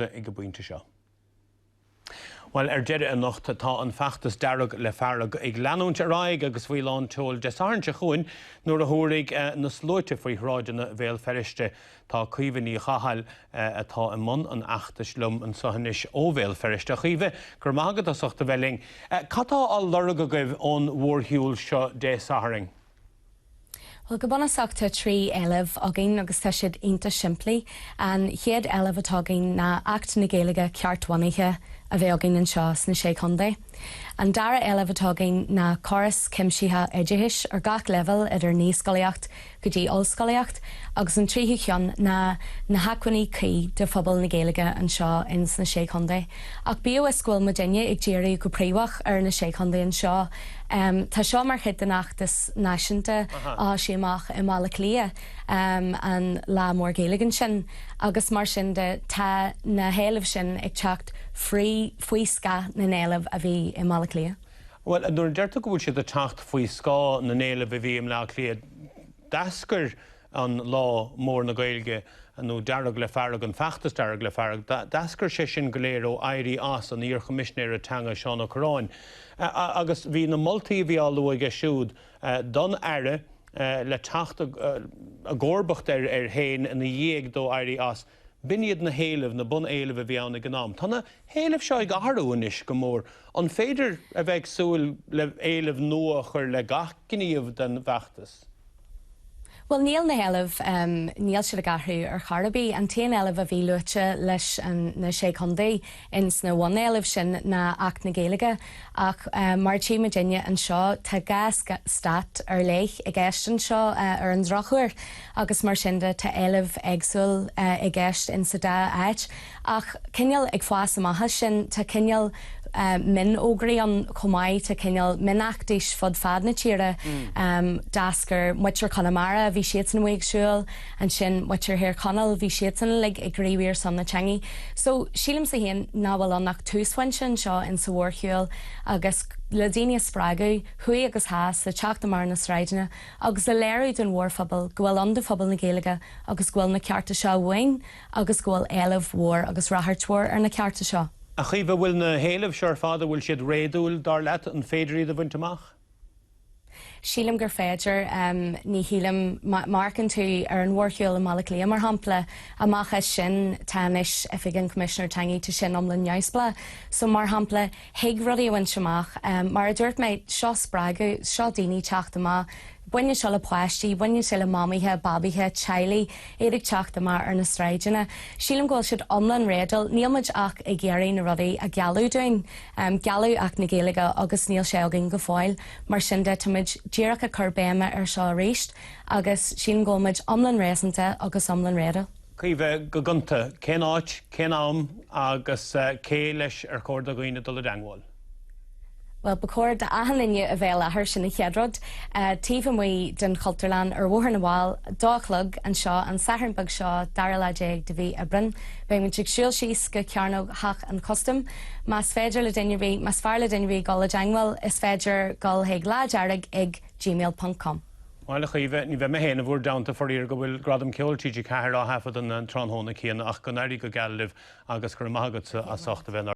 ag an bpointe seo. Bhuel, ar deireadh anocht tá an feachtas Dearg le Fearg ag leanúint ar aghaidh agus faoi lán tseoil Dé Sathairn seo chugainn nuair a thabharfaidh na sluaite faoi shráideanna Bhéal Feirste. Tá Caoimhe Ní Chathail atá i mbun an fheachtais liom anseo anois ó Bhéal Feirste. A Chaoimhe, go raibh maith agat as ucht a bheith linn. Cad tá á lorg agaibh ón mhórshiúl seo Dé Sathairn? Bhuel, go bunúsach tá trí éileamh againn agus tá siad iontach simplí. An chéad éileamh atá againn ná Acht na Gaeilge ceart-bhunaithe a bheith againn anseo sna Sé Chontae. An dara éileamh atá againn ná córas cuimsitheach oideachais ar gach leibhéal idir naíscolaíocht go dtí ollscolaíocht agus an tríú cheann ná na hacmhainní cuí do phobal na Gaeilge anseo ins na Sé Chontae. Ach bíodh is go bhfuil muidinne ag díriú go príomhach ar na Sé Chontae anseo, Tá seo mar chuid den fheachtas náisiúnta a d'fhás amach i mBaile Cliath, an Lá Mór Gaeilge ansin, agus mar sin de tá na héilimh sin ag teacht faoi scáth na n-éileamh a bhí i mBaile Cliath. Bhuel, nuair a deir tú go bhfuil sé ag teacht faoi scáth na n-éileamh a bhí i mBleá Cliath, d'eascair an Lá Mór na Gaeilge nó Dearg le Fearg, an Feachtas Dearg le Fearg. D'eascair sé sin go léir ó éirí as an iarChoimisnéara Teanga Seán Ó Cuirreáin agus bhí na moltaí a bhí á lua aige siúd don Aire le teacht i gcomharbacht air féin ina dhiaidh dó éirí as. B'in iad na héilimh, na bun éilimh a bhí ann ag an am. Tá na héilimh seo ag athrú anois go mór. An féidir a bheith ag súil le héilimh nua a chur le gach gníomh den bhfeachtas? Bhuel níl na héilimh, níl siad ag athrú ar chor ar bith. An t-aon éileamh a bhí luaite leis na Sé Chontae, ins na bun-éilimh sin ná Acht na Gaeilge ach mar atá muidinne anseo tá dhá stát ar leith i gceist anseo ar an drochuair agus mar sin de tá éilimh éagsúla i gceist ins sa dá áit ach cineál ag fás amach as sin tá cineál mion-fhógraí ann chomh maith tá cineál mion-fheachtais fud fad na tíre dearc ar muintir Chonamara bhí siadsan amuigh ag siúl Ansin muintir Thír Chonaill, bhí siadsan uilig ag gníomhú ar son na teangaidh. So, sílimse féin nach bhfuil ann ach túsphointe anseo in sa mhórshiúil agus le daoine a spreagadh, thuaidh agus theas, le teacht amach ar na sráideanna agus le léiriú don mhórphobal go bhfuil ann do phobal na Gaeilge agus go bhfuil na cearta seo uainn agus go bhfuil éileamh mhór agus ráchairt mhór ar na cearta seo. A Chaoimhe, bhfuil na héilimh seo ar fad, an bhfuil siad réadúil, dar leat? An féidir iad a bhaint amach? Sílim gur féidir. Ní shílim má amharcann tú ar an mhórshiúl i mBaile Átha Cliath, mar shampla, amach as sin tá anois Oifig an Choimisinéir Teanga, tá sin iomlán neamhspleách. So, mar shampla, thig rudaí a bhaint amach. Mar a dúirt mé, seo spreagadh, seo daoine teacht amach. Baineann seo le páistí, baineann sé le mamaithe, babaithe, teaghlaigh, iad ag teacht amach ar na sráideanna. Sílim go bhfuil siad iomlán réadúil, níl muid ach ag iarraidh na rudaí a gealladh dúinn. Gealladh Acht na Gaeilge agus níl sé againn go fóill, mar sin de táimid díreach ag cur béime ar seo arís agus sílim go bhfuilmid iomlán réasúnta agus iomlán réadúil. Caoimhe, go gonta, cén áit, cén am agus cé leis ar chóir do dhaoine dul i dteangmháil? Bhuel, ba chóir d'achan duine a bheith i láthair, sin an chéad rud, taobh amuigh den Chultúrlann ar Bhóthar na bhFál, dó a chlog, anseo, an Satharn beag seo, dara lá déag de mhí Aibreán. Beimid ag siúl síos go Cearnóg Theach an Chustaim, Más féidir le duine ar bith, más fearr le duine ar bith gul i dteangmháil, is féidir gul chuig Lá Dearg ag gmail ponc com. Maith thú Caoimhe, ní bheidh mé féin i bhur dteannta faraor mar go bhfuil Gradam Ceoil TG4 á thaifeadadh an tráthnóna céanna ach go n-éirí go geal libh agus go raibh maith agatsa as ucht a bheith inár